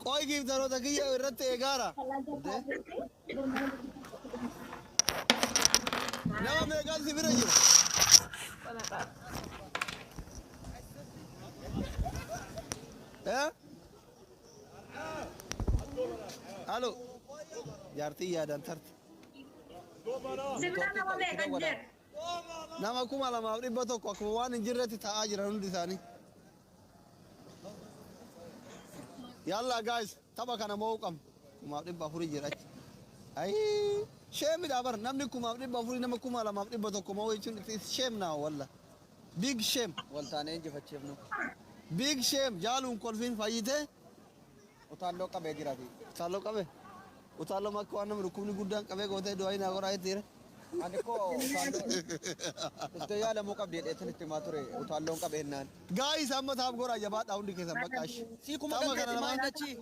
Qoy giiftaroota kiyya irratti eegaara. Nama meeqaan si bira jira? Eh? Halo. Jaartii yaadaan tarte. Sibila nama meeqan jira? Nama 2,100 akkuma waan hin jirretti taa'aa jiran hundi isaanii. Yalla guys, tapha kana mo'uu qabna. 4,400 jira achi. Ayii! Sheemidha bar namni 4,400 nama 2,100 mo'uu jechuun it's shame now walla. Big shame. Waltaanee injifachiifnu. Big shame jaaluun kolfiin fayyitee Utaalloo qabee jira ati. Utaalloo qabe? Utaalloo makka waan nama dhukkubni guddaan qabee gootee du'aa hin hagoraa jettiire. Ani koo utaalloo dhuftee yaalamuu qabdi jedhee isin itti himaa ture utaalloon qabe hennaan. Gaayis amma taaf goraa jabaadhaa hundi keessan bakka ashi. Sii kuma Tama galtee kana timaa hin namaan. dachii.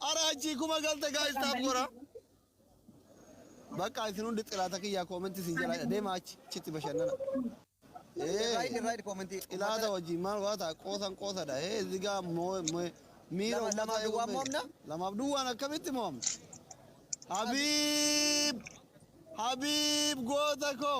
Ara achii kuma galte gaayis taaf goraa. Bakka isin hundi xilaata kiyyaa koomentii isin jalaa deema achi chitti bashannana. Irraayid irraayid koomentii. Xilaata wajjin maal waa ta'a qoosan qoosadha. Hee zigaa moo miira Lama- lamaaf duwwaa mo'amna? Lamaaf duwwaan akkamitti mo'amna? Habiib! Habiib goota koo!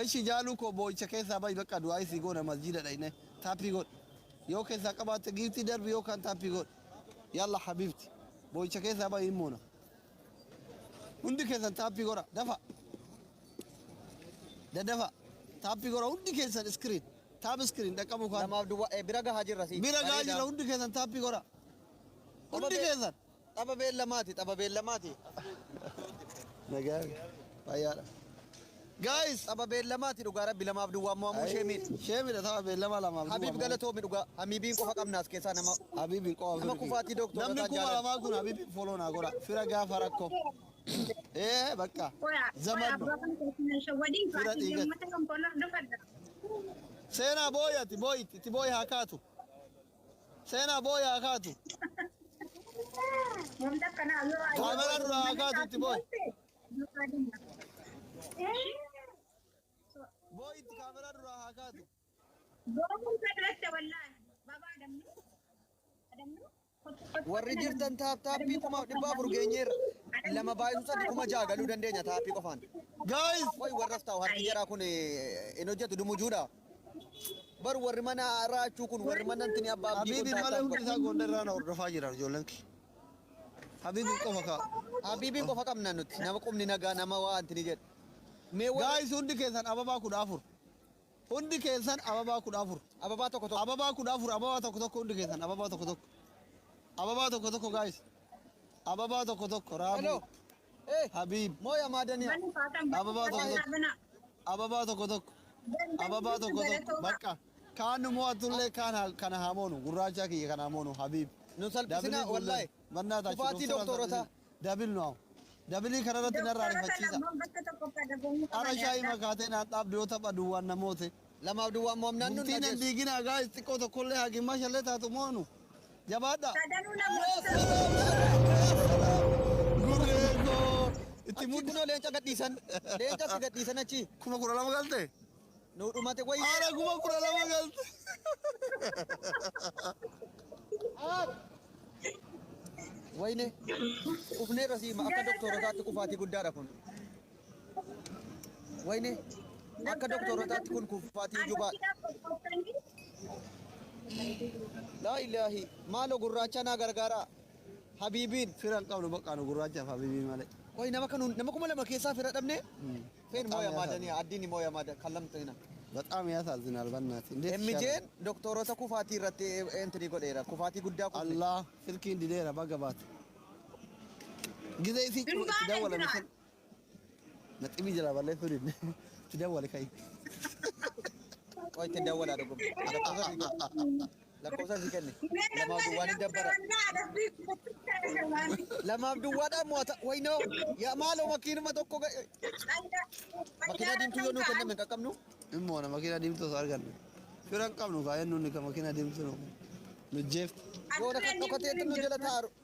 Eshi jaaluu koo boo'icha keessaa bahi bakka du'aa'ii sii goona masjiida dhayne taappii godhi yoo keessaa qabaatte giiftii darbi yoo kaan taappii godhi yalla habiibti boo'icha keessaa bahi hin moona hundi keessan taappii godha dafa dadafa taappii godha hundi keessan iskiriin taap iskiriin dhaqqabuu kaan Namaaf duwwaa eh, bira gahaa jirra si. bira gahaa Bareeda. jira hundi keessan taappii godha hundi Obbo Be- keessan Tapha beellamaati, tapha beellamaati. Nagaa fayyaadha. Guys, tapha beellamaati dhugaa rabbi lamaaf duwwaa mo'amuu ishee miidha. Ishee miidha tapha beellama lamaaf duwwaa. Habiib galatoomi dhugaa. Hamiibiin qofa qabna as keessaa nama. Habiibiin qofa. Nama kufaatii dooktora Namni irraa kuma jaalatu. lamaa kun Habiibiin foloo naa godha. Fira gaafa rakkoo. Ee bakka. Zaman no. Fira dhiigan. Seenaa booyi ati booyi itti booyi haa kaatu. Seenaa booya haa kaatu. Wanta akkanaa yoo ayyaana Kaameraa dura haa kaatu itti booyi. Booyi itti kaameraa dura haa kaatu. Boomuu sadarate wallaahi. Babaa adamnu. Adamnu. Warri jirtan taap taappii kuma dhibba afur geenyeerra. Lama baay'isu sadii kuma ja'a galuu dandeenya taappii qofaan. Guys! Qoy warras ta'u harki jaraa kun eh, hin hojjetu dumujuudha. Bar warri mana raachuu kun warri mana ntini abba abdii kun Habiibiin malee taataaf hundi bar. isaa goondar irraa na hordofaa jiran ijoolleen kee. Habiibiin qofa kaa. Habiibiin qofa qabna nuti nama qubni nagaa nama waa antini jedhu. Mee warri Gaayis hundi keessan ababaa kudha afur. Hundi keessan ababaa kudha afur. ababaa tokko tokko. Ababaa kudha afur ababaa tokko tokko hundi keessan ababaa tokko tokko. Ababaa tokko tokko gaayis. Ababaa tokko tokko raafuu. Hello. Eh Habib moo yamaa daniya. Mali fatan bani Ababaa tokko fatan tokko. abana. Ababaa tokko tokko. Bani bani Ababaa tokko tokko. galatoma. Bakka. Kaan nu mo'atullee kaan haa- kana haa moonu. Gurraachaa kiyya kana haa moonu. Habib. Nu salphisinaa, Dabilii kuulleen. wallahi. Mannaa taachi. Kufaatii Doktora doktoorotaa. salphisin. Dabil nu haa. Dabilii kanarratti narraa Doktora kana rifachiisa. ammoo bakka tokko fadagomuu Ara qaban shaayii yaaddaa. makaatee naan dhaabdu yoo tapha duwwaan na moote. 2f duwwaan mo'amnaan nun Bultii nan dhageessu. diiginaa guys xiqqoo tokkollee haa gimmaashallee taatu moonu jabaadhaa. Sadanuu na moosisaa. Gurree koo itti Achii mudda. kunoo leenca gadhiisan. Leenca si gadhiisan achii. Kuma kudha lama galte? Nuu dhumate wayii. Haala kuma kudha lama galte. Wayine. Qufneerra siima akka doktorotaatti qufaatii guddaadha kun. Wayne akka doktorootaatti kun kuffaatii jubaa. Laa ilaahi maaloo gurraachaa naa gargaaraa. Habiibiin. Fira hin qabnu bakka nu gurraachaaf habiibii malee. Qoy nama kan nama kuma lama keessaa fira dhabne. Feen Bexaam mooya yaasaa maadani dha. addiin mooya maada kan lamxina. Bexaam yaasaazinal bannaati. Indeet Emmijeen shaalan. doktorota kufaatii irratti entrii godheera. Kufaatii guddaa kufne. Allah silkiin dideera baga baate. Gizee isii cufa itti Durbaan dawwalame jira. san. Naxximii jala ballee fuudhin. Itti dawwali ka'i. Qoy itti dawwala dhugum. Lakkoofsa si kenni. Lakkoofsa si kenni. Lamaaf duwwaan hin dabbara. Lamaaf duwwaadhaan mo'ata. Waynoo. Yaa maaloo makiinuma tokko ga'e. Makiinaa diimtuu yoo nuu kenname hin qaqqabnu. Immoo na makiinaa diimtuu osoo arganne. Fira hin qabnu kaa eenyuun ni ka makiinaa diimtuu nu. Nu jeefti. Yoo na kan dhokatee nu jala taaru.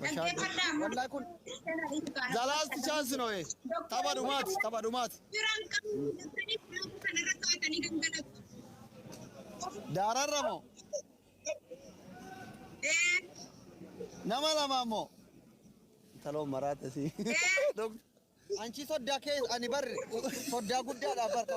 Wallahi kun the last chance no eh. Tapha dhumaati, tapha dhumaati. Daararra moo? Nama lama moo? Taloo maraate si. Dok- Anchi soddaa kee ani barre soddaa guddaadha barka.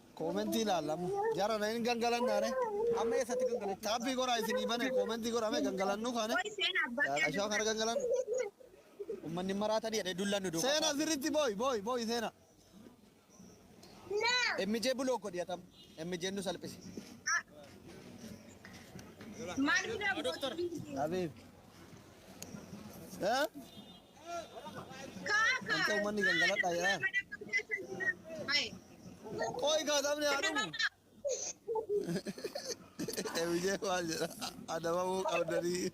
Koomentii ilaalla amma. Jarana hin gangalannaa re. Amma eessatti gangalachuu? Taabbii goraa isinii bane koomentii goraa mee gangalannuu kaane. Qoy seena abbaa Yaa qashaa kana gangalannu. Ummanni maraatanii jedhee dullaan nu duukaa. Seena sirriitti booyi booyi booyi seena. MJ bulook godhi atam. MJ nu salphise. Maal bira Doktor. Habiib. Eh? Wanta uummanni gangaladhaa jedhaa. Qoy kaa taphni haa dhumu. Ebijee maal jedha? Adabamuu qabdanii.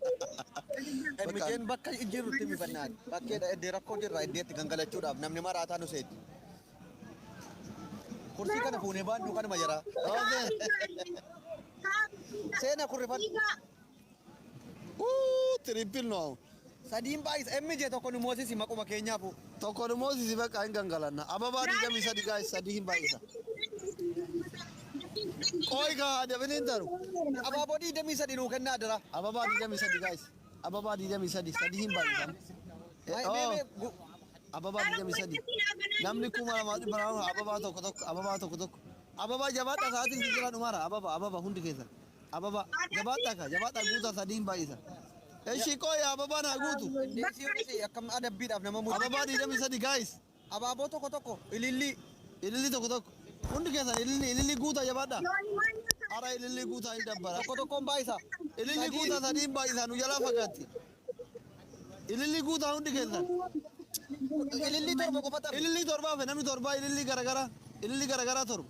Emijeen bakka jirrutti mifannaan bakkeedha iddee rakkoo jirra iddeetti gangalachuudhaaf namni maraataa nu seeti. Kursii kana fuunee baaduu kanuma jira. Seena kurrifan. Wuu triple no aun. Sadiin baay'isa MJ tokko nu moosisi maquma keenyaafuu. Tokko nu moosisi bakka hin gangalanna. Ababaa 23 guys sadii hin baay'isa. Qooy kaa dabiliin taru. Abaaboo 23 nuu kennaa adara. Ababaa 23 guys. Ababaa 23 sadii hin baay'isan. Mee mee mee gu- Ababaa 23. Namni kuma lama dhibba lama ababaa tokko tokko ababaa tokko tokko. Ababaa jabaadha sa'aatiin si jira dhumara ababa ababa hundi keessan. Ababa. Jabaadhaa kaa jabaadhaa guutaa sadiin baay'isa. Eshi qoya ababa naa guutu. Dandeessiin isii akkam adabbiidhaaf nama mudda. Ababa digdamii sadi guys. Abaaboo tokko tokko ilillii. Ililli tokko tokko. Hundi keessan ililli ililli guutaa jabaadhaa. Ara ililli guutaa hin dabbara. Tokko tokkoon baay'isa. Ililli guutaa sadiin baay'isaa nu jalaa fagaatti. Ililli guutaa hundi keessan. Ilillii torba qofa taphi. Ililli torbaa fe namni torbaa ililli garagaraa. Ililli garagaraa torba.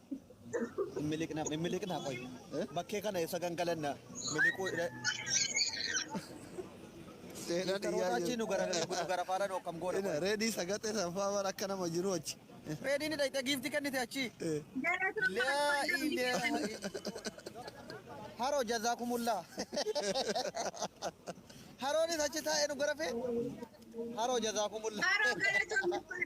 Hin miliqna, hin miliqna qoy. Bakkee kana eessa gangalanna? Miliquu hidha. Seena Intaroota achii nu gara nu gara faara nu akkam goona. qoy. Reedii sagaxee sanfaa bara akka nama jiru achi. Reediin hidha hidha giifti kennite achii. Laa ilaaha illallah. Haroo jazaakumullaa. Haroonis achi taa'ee nu gara fee. Haroo jazaakumullaa. Haroo galatoomii.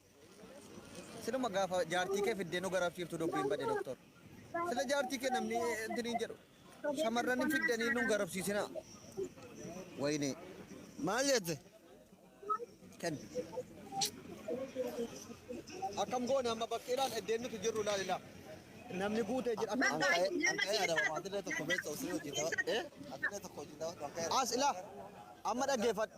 Siluma gaafa jaartii kee fiddee nu garafsiiftu dubbiin bade doktor. Sila jaartii kee namni intiniin jedhu shamarran hin fiddanii nu garafsiisinaa. Wayinee. Maal jette? Kenni. Akkam goone amma bakkee ilaal eddeen nuti jirru ilaal ilaal. Namni guutee jira akkam Bakka goone. Anqa'ee anqa'ee adama atilee tokko beektu osoo hojii daba. Eh? Atilee tokko hojii daba anqa'ee. As ilaa amma dhaggeeffadhu.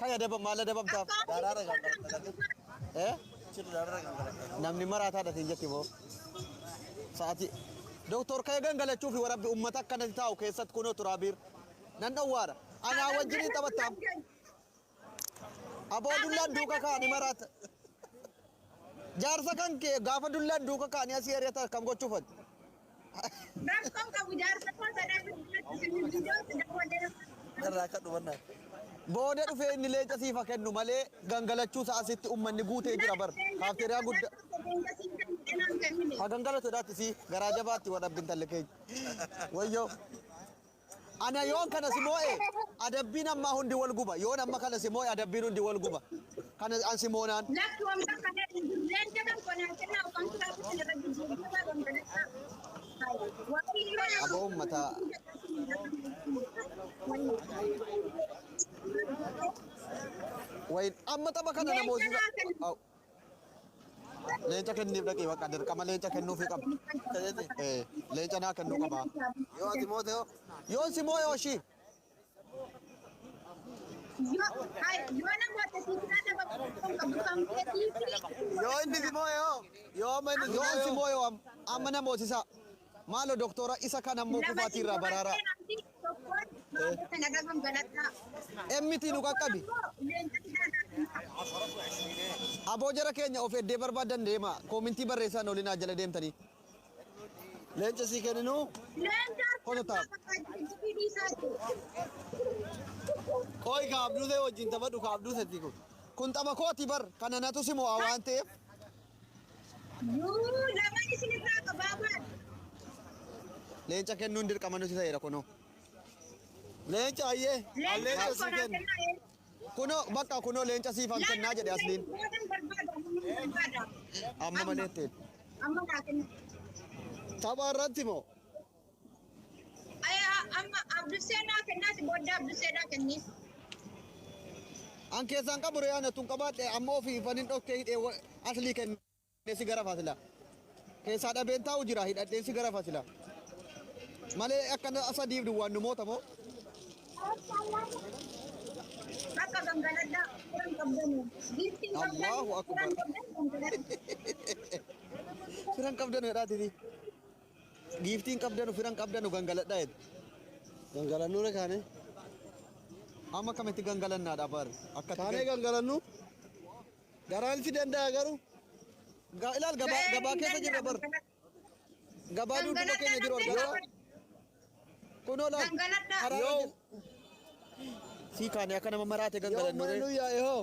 Kaya dabam maala dabamtaaf daaraara kan qabatanii. Eh? Chirri daaraara kan qabatanii. Namni maraataa dhatiin jetti moo? Sa'aatii. Doktor kaya gangalachuu fi warabbi uummata akkanatti taa'u keessatti kunoo turaabiir. Nan dhowwaadha. Anaa wajjin hin taphattaam. Aboo dullaan duuka kaa'anii maraata. Jaarsa kan kee gaafa dullaan duuka kaa'anii asii ari'atan kam gochuufati? Rakkoon qabu jaarsa koo sana irratti isin biyyoota daawwadee Narraa akka dhumannaa. Booda dhufee inni leenca siif haa kennu malee gangalachuu isaa asitti ummanni guutee jira bar. Kaafteeriyaa guddaa. Haa gangalatu daatti sii garaa jabaatti wadhabbi intalli keenya. Wayyoo. Ana yoon kana si moo'e, adabbiin ammaa hundi wol guba, yoon amma kana si moo'e, adabbiin hundi wol guba, kana an si moonaan. Lafti wanta kana hin jirreen jedhan qonaa kennaa ofantu lafti kana irra jijjiiru jabaa dhangala'aa. Waaqayyoo nama Aboo ummata. Wayin amma tapha kana na moosisa. Au. Leenca kenniif dhaqii bakka dirqama leenca kennuufi qaba. Eh, Leenca naa kennuu qaba. Yoo ati moote hoo? Yoon si moo'e hoshii. Yoo inni si moo'e hoo? Yoo amma inni si Yoon si moo'e hoo? moo'e hoo? Amma na moosisaa. Maalo doktora isa kan ammo Nama kufaatii irraa baraaraa. injifattee namni tokkoon maammoo kana gafan galadhaa. MT nu qaqqabi. Tokkoon ammoo leenca fidaa naaf himaa. Aboo jara keenya of eddee barbaadan deema. Koomintii barreessaan olin haa jala deemtanii. Leenca sii kenninuu. Leenca Kono ta'a. abbaa barbaachisu ofii dhiisaa jiru. Qoy ka abduu ta'e wajjin taphadhu ka abduu ta'e kun. Kun tapha kooti bar kana natu si mo'a waan ta'eef Yuu lamaan isin irraa qabaa maal? Leenca kennuun dirqama nuti ta'eera kunoo. Leenca ayyee. Al Leenca leenca tokko sii naa kenna. kennaa ee. Kunoo bakka kunoo leenca siifan kennaa jedhe asliin. Boodan barbaada amma barbaada. Amma malee ta'e. Amma naa kenna. Tapha irratti moo? Amma Abdul Seenaa kennaati booddee Abdul Seenaa kenniif. An keessaan qabu ree ana tun qabaadhe amma ofii fanin dhokkee hidhee wa- aslii kennee si gara fasila. Keessaa dhabeen taa'u jira hidhadheen si gara fasila. Malee akkana sadiif duwwaan nu moota moo? Bakka gangaladhaa furan qabdanii. Giiftiin qabdanii Allahu Akbar. furan qabdan gangaladhaa. Firan qabdan jedhaatiti. Giiftii hin qabdanu, fira hin qabdanu gangaladha jette. Gangalannu re kaane. Amma akkamitti gangalannaadha bar? Akkatti Kaanee gan- gangalannu. Garaan si danda'a garuu. Ga- ilaal gabaa Ga'ee gabaa hin keessa jirra bar. danda'amu. Gabaa duuduuba keenya jiru argaa. Gangaladha. Kunoo laal. Gangaladha. Karaa Yoo jir- Sii kaane akka nama maraate yoo gangalannu mana re. nu yaa'e hoo.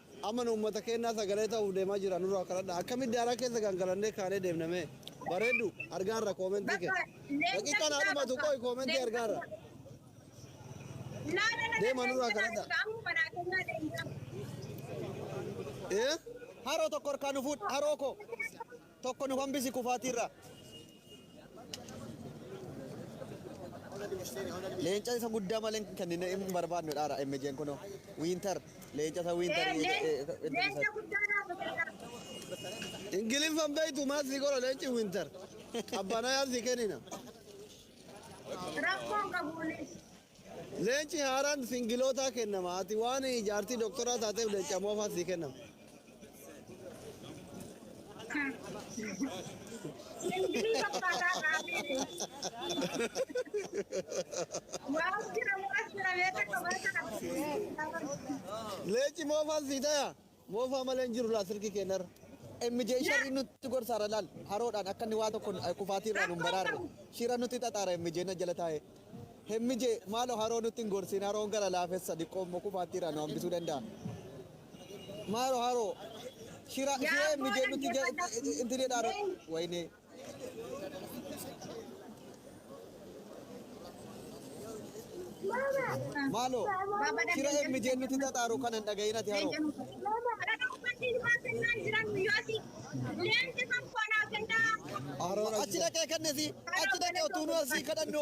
Amma nu ummata keennaa sagalee ta'uuf deemaa jirra nurraa of kadhadhaa. Akkamitti daaraa keessa gangalannee kaanee deemna mee? Bareedu, argaarra koomentii kee. Daqiiqaan haa dhumatu qoy koomentii argaarra. Deema nurraa kadhadhaa. Ee? Haroo tokko harkaa nu fuudhi haroo koo. Tokko nu hambisi kufaatiirraa. Leenca isa guddaa malee hin kennine hin barbaadnu dhaara MJn kunoo. Wiintar. Leenca isa wiintar. Leenca guddaa naa fakkata. Ingiliffan beektu maal si godha leenci wiintar. Qabbanaa yaa si kennina. Rakkoon qabuunis. Leenci haaraan singilootaa kennama. Ati waan jaartii doktoraa taateef leenca moofaa sii kennama. Singilii fakkaataa qaamni. Waan jira mukas jira beeka qabaa kana. Leenci moofaan sii tayaa? Moofaa malee hin jiru laa silkii kee narra. MJ sharrii nutti gorsaara laal haroodhaan akka inni waa tokko kufaatii irraa nu hin baraarre shira nutti xaxaara MJ na jala taa'ee. MJ maaloo haroo nutti hin gorsiin haroon gara laafessa diqqoo immoo kufaatii irraa nu hambisuu danda'a. Maaloo haroo shira shira MJ nutti inti jedhaara. Wayinee. Maaloo shira MJ nuti xaxaaru kana hin dhagahin ati haroo. Achi dhaqee kennesi achi dhaqee utuu nu asii kadhannu.